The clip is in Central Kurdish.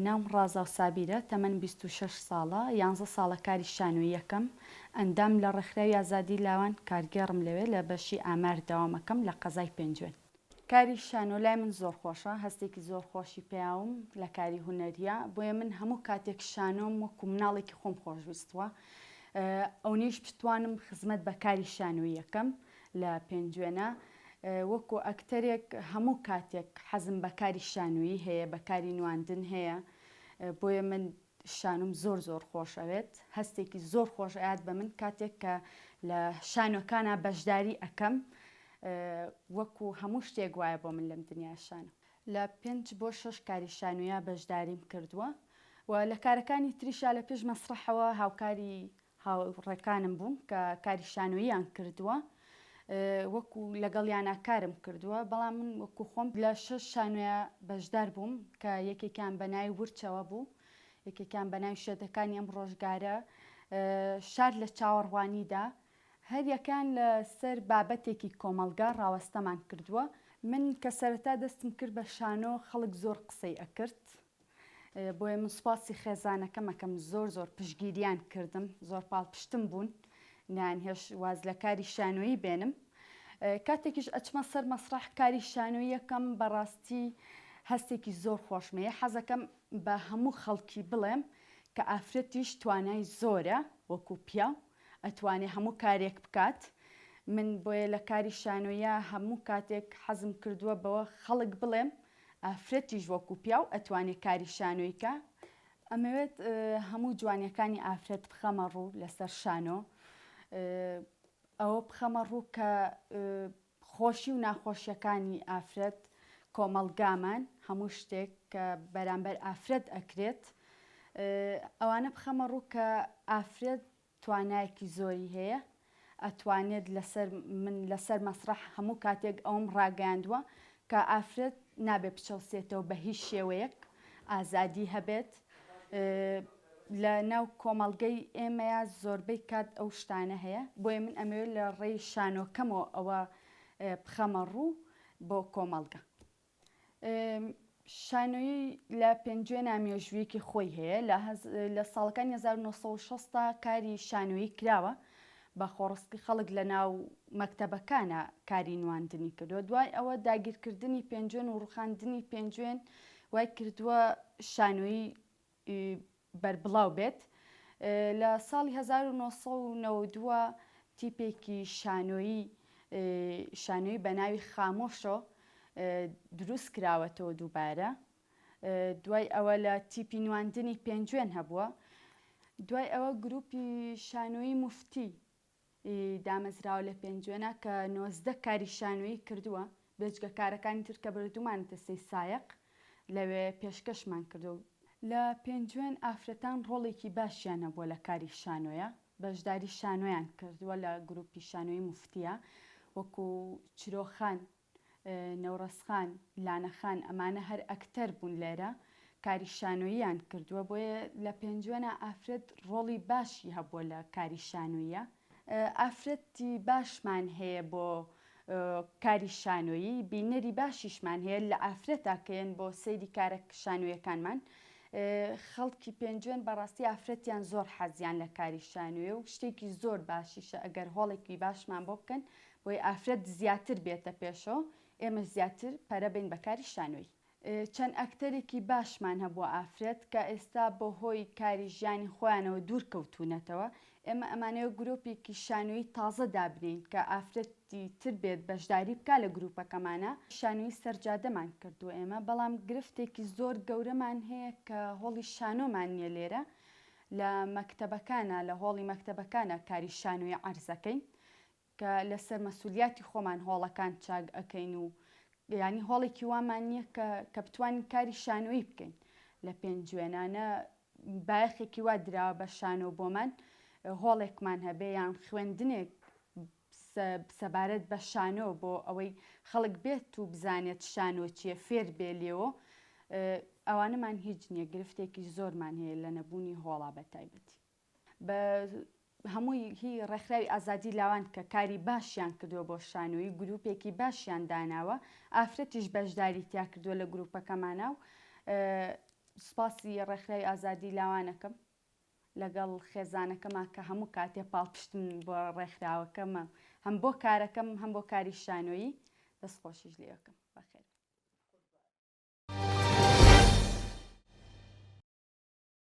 ناوم ڕازاو سابیرە، تەمەنم بیست و شەش ساڵە، یانزە ساڵە کاری شانۆییەکەم، ئەندام لە ڕێکخراوی ئازادی لاوان، کارگێڕم لەوێ، لە بەشی ئامار دەوامەکەم لە قەزای پێنجوێن. کاری شانۆ لای من زۆر خۆشە، هەستێکی زۆر خۆشی پیاوم لە کاری هونەرییە، بۆیە من هەموو کاتێک شانۆم وەکو مناڵێکی خۆم خۆشویستووە، ئەونەیش بتوانم خزمەت بە کاری شانۆییەکەم لە پێنجوێنە وەکو ئەکتەرێک هەموو کاتێک حەزم بە کاری شانۆیی هەیە بە کاری نواندن هەیە بۆیە من شانۆم زۆر زۆر خۆش ئەوێت هەستێکی زۆر خۆش ئەیات بە من کاتێک کە لە شانۆکانە بەشداری ئەکەم وەکو هەموو شتێک وایە بۆ من لەم دنیا شانە لە پێنج بۆ شەش کاری شانویا بەشداریم کردووە و لە کارەکانی تریشا لە پێش مەسرحەوە هاوکاری هاوڕێکانم بوون کە کاری شانۆییان کردووە وەکو لەگەڵیانا کارم کردووە بەڵام من وەکو خۆم لە شەش شانۆیە بەشدار بووم کە یەکێکیان بە ناوی ورچەوە بوو یەکێکیان بە ناوی شێتەکانی ئەم ڕۆژگارە شار لە چاوەڕوانیدا هەر یەکان لە سەر بابەتێکی کۆمەڵگا ڕاوەستەمان کردووە من کە سەرەتا دەستم کرد بە شانۆ خەڵک زۆر قسەی ئەکرد بۆیە من سوپاسی خێزانەکەم ئەکەم زۆر زۆر پشگیریان کردم زۆر پاڵپشتم بوون نان هێش واز لە کاری شانۆیی بێنم کاتێکیش ئەچمە سەر مەسرح کاری شانۆیەکەم بەڕاستی هەستێکی زۆر خۆشمەیە حەزەکەم بە هەموو خەڵکی بڵێم کە ئافرەتیش توانای زۆرە وەکو پیاو ئەتوانێ هەموو کارێک بکات من بۆیە لە کاری شانۆیە هەموو کاتێک حەزم کردووە بەوە خەڵک بڵێم ئافرەتیش وەکو پیاو ئەتوانێ کاری شانۆی کا ئەمەوێت هەموو جوانیەکانی ئافرەت بخەمە ڕوو لەسەر شانۆ ئەوە بخەمە ڕوو کە خۆشی و ناخۆشیەکانی ئافرەت کۆمەڵگامان هەموو شتێک کە بەرامبەر ئافرەت ئەکرێت ئەوانە بخەمە ڕوو کە ئافرەت توانایەکی زۆری هەیە ئەتوانێت لەسەر من لەسەر مەسڕەح هەموو کاتێک ئەوەم ڕاگەیاندووە کە ئافرەت نابێت بچەوسێتەوە بە هیچ شێوەیەک ئازادی هەبێت لە ناو کۆمەڵگەی ئێمەیە زۆربەی کات ئەو شتانە هەیە بۆیە من ئەمەوێت لە ڕێی شانۆکەمەوە ئەوە بخەمە ڕوو بۆ کۆمەڵگە شانۆیی لە پێنجوێنا مێژوویەکی خۆی هەیە لە ساڵەکانی 1960 تا کاری شانۆیی کراوە بە خۆڕستی خەڵک لە ناو مەکتەبەکانە کاری نواندنی کردووە دوای ئەوە داگیرکردنی پێنجوێن و ڕوخاندنی پێنجوێن وای کردووە شانۆیی ی بەربڵاو بێت لە ساڵی هەزار و نۆ سەد و نەوەد و دوو تیپێکی شانۆیی شانۆیی بە ناوی خامۆشۆ دروست کراوەتەوە دووبارە دوای ئەوە لە تیپی نواندنی پێنجوێن هەبووە دوای ئەوە گروپی شانۆیی مفتی ی دامەزراوە لە پێنجوێنە کە نۆزدە کاری شانۆیی کردووە بێجگە کارەکانی تر کە بردوومانە تەسەی سایەق لەوێ پێشکەشمان کردووە. لە پێنجوێن ئافرەتان ڕۆڵێکی باشیان هەبووە لە کاری شانۆیە بەشداری شانۆیان کردووە لە گروپی شانۆیی موفتیە وەکو چرۆخان نەورەز خان، لانە خان ئەمانە هەر ئەکتەر بوون لێرە کاری شانۆییان کردووە بۆیە لە پێنجوێنا ئافرەت ڕۆڵی باشی هەبووە لە کاری شانۆییە ئافرەتی باشمان هەیە بۆ کاری شانۆیی بینەری باشیشمان هەیە لە ئافرەتا کەێن بۆ سەیری کارە شانویەکانمان خەڵکی پێنجوێن بەڕاستی ئافرەتیان زۆر حەزیان لە کاری شانوێ و شتێکی زۆر باشیشە ئەگەر هۆڵێکی باشمان بۆ بکەن بۆیە ئافرەت زیاتر بێتە پێشەوە ئێمەش زیاتر پەرە بەین بە کاری شانۆیی. چەند ئەکتەرێکی باشمان هەبووە ئافرەت کە ئێستا بە هۆی کاری ژیانی خۆیانەوە دوور کەوتوونەتەوە، ئێمە ئەمانەوێ گروپێکی شانۆیی تازە دابنێین کە ئافرەتی تر بێت بەشداری بکا لە گروپەکەمانا، شانۆیی سەرجادەمان کردووە ئێمە بەڵام گرفتێکی زۆر گەورەمان هەیە کە هۆڵی شانۆمان نییە لێرە لە مەکتەبەکانا لە هۆڵی مەکتەبەکانا کاری شانۆیی عەرزەکەین کە لەسەر مەسولیاتی خۆمان هۆڵەکان چاک ئەکەین و یانی هۆڵێکی وامان نییە کە کە بتوانین کاری شانۆیی بکەین لە پێنجوێنە نە بایەخێکی وا دراوە بە شانۆ بۆمان هۆڵێکمان هەبێ یان خوێندنێک سەبارەت بە شانۆ بۆ ئەوەی خەڵک بێت و بزانێت شانۆ چیە فێر بێ لێەوە ئەوانەمان هیچ نییە گرفتێکی زۆرمان هەیە لە نەبوونی هۆڵا بە تایبەتی بە هەمووی هی ڕێکخراوی ئازادی لاوان کە کاری باشیان کردووە بۆ شانۆیی گروپێکی باشیان داناوە ئافرەتیش بەشداری تیا کردووە لە گروپەکەمانە و سپاسی ڕێکخراوی ئازادی لاوانەکەم لەگەڵ خێزانەکەما کە هەموو کاتێ پاڵپشتم بۆ ڕێکخراوەکەمە هەم بۆ کارەکەم هەم بۆ کاری شانۆیی دەست خۆشیش لەکەم بەخێر